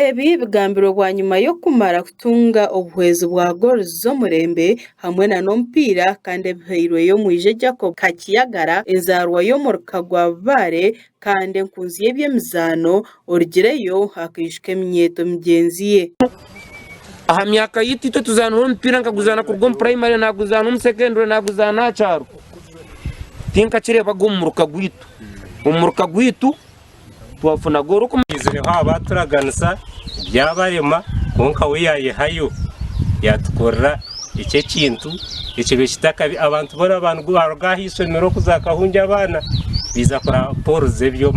Ebi bigambirwe bwanyima y'okumara kutunga obuhwezi bwa goolo z'omurembe hamwe nana omupiira kandi ebihairweyo omwije Jacob Kakyagara enzaarwa y'omuruka gwa Bubaare kandi enkunzi y'eby'emizaano Orugireyo akaijuka eminyeeto migyenzi ye. Aha myaka yaitu, itwe tuzaanaho omupiira nkaguzaana kuruga omu puraimari, naaguzaana omu sekendure, naaguzaana aha kyaro. Tinkakireebaga omu muruka gwaitu. Omu muruka gwaitu twafunaga orikuma. Twizireho abaaturaganisa byabarema kwonka we yaayehayo yaatukorera ekyo ekintu ekibe kitakabi. Abantu boona abaaruga aha ishomero kuza Kahungya abaana baiza kureba Paul Zebyo.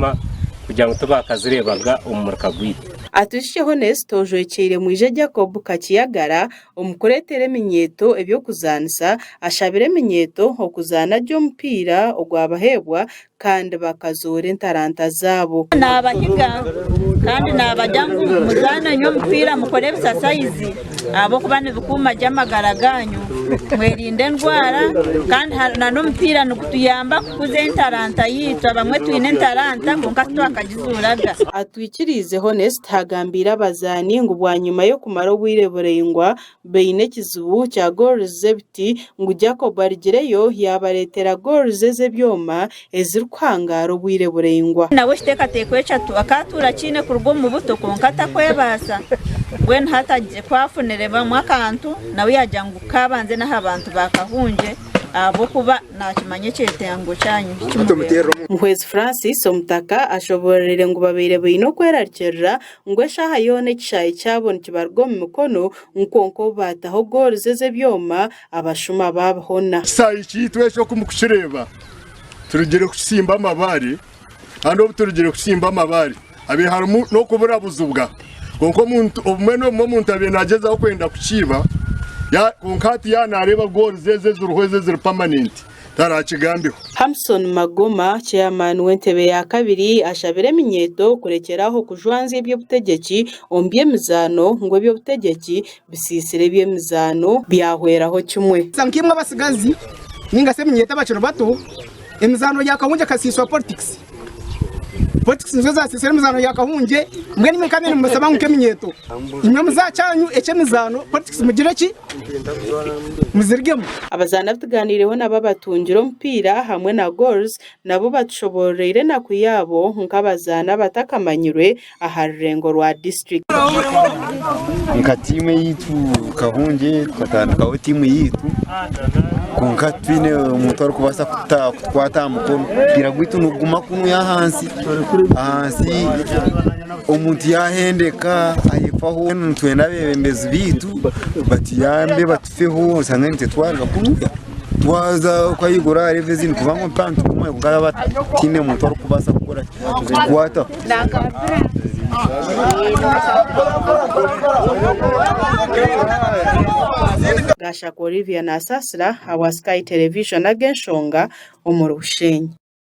kugira ngu tibakazireebaga omu muruka gwaitu. Atwishikye Honest ojwekyeire mwije Jacob Kakiyagara omu kureetera eminyeeto eby'okuzaanisa, ashabire eminyeeto okuzaana gye omupiira ogwabaheebwa kandi bakazoora entaranta zaabo. Naabahiga kandi naabagira ngu muzaane nyo omupiira mukore ebisasayizi. ahabw'okuba nibikuuma gye amagara gaanyu, mwerinde endwara. Kandi n'omupiira nigutuyamba kukuza entaranta yaitu. Abamwe twine entaranta kwonka titwakagizuuraga. Atwikiriize Honest haagambiire abazaani ngu bwanyima y'okumara obwire buraingwa baine ekizibu kya goals z'ebiti ngu Jacob arigireyo yaabareetera goals ez'ebyoma ezirikuhangaara obwire buraingwa. Nawe ekiteekateeko eki akaatuura akiine kuruga omu buto kwonka atakwebaasa, mbwenu hati agizire ku aafunirebamu akantu nawe yaagira ngu kaabanze n'aha bantu ba Kahungye ahabw'okuba naakimanya ekyetengo kyanyu eki kimureetera. Muhwezi Francis Omutaka ashoboororire ngu babaire baine okwerarikirira ngu eshaaha yoona ekishaayi kyabo nikibaruga omu mikono ngu kwonka obu baataho gooluzi ez'ebyoma, abashuma baabihona. Ekishaayi kyaitu ekyo oku mukukireeba, turugire kukitsimba amabaare, kandi obu turugire kukitsimba amabaare habaire harimu n'okuburabuzibwa, kwonka omuntu obumwe n'obumwe omuntu abaire naagyezaho kwenda kukiiba, kwonka hati yaaba naareeba goals ezo eziriho ezo eziri permanent taraakigambeho. Hamson Magoma, chairman w'entebe ya kabiri ashabire eminyeeto kurekyera aho kujwanzya eby'obutegyeki omu by'emizaano ngu eby'obutegyeki bisiisira eby'emizaano byahweraho kimwe. Busa nk'imwe abatsigazi ninga shi eminyeeto abakiri bato, emizaano ya kahungye ekasiiswa politikisi. Politikisi nizo zaasiisire emizaano ya kahungye, mbwenu imwe nkabaire nimubashaba ngu nk'eminyeeto, imwe omu za kyanyu eky'emizaano politikisi mugire ki? Muzirigemu. Abazaani abu tugaaniireho nabo abatungire omupiira hamwe na Goals nabo batushoboororeire enaku yaabo nk'abazaani abatakamanyirwe aha rurengo rwa disiturikiti. Nka tiimu eyaitu Kahungye tukatandikaho tiimu yaitu kwonka twine omuntu arikubaasa kutukwata aha mukono omupiira gwaitu niguguma kunuya ahansi ahansi omuntu yaahendeka ayefaho mbwenu nitwenda abeebembezi baitu batuyambe batufeho oshange nitutwarwa kunuya twaza kweyigura aha reero ezindi kubanga omupiira nituguma kwonka baaba bataine muntu arikubaasa kutukwataho Gashaka Olivia nasaasira awa Sky Television ag'enshonga omuri Bushenyi.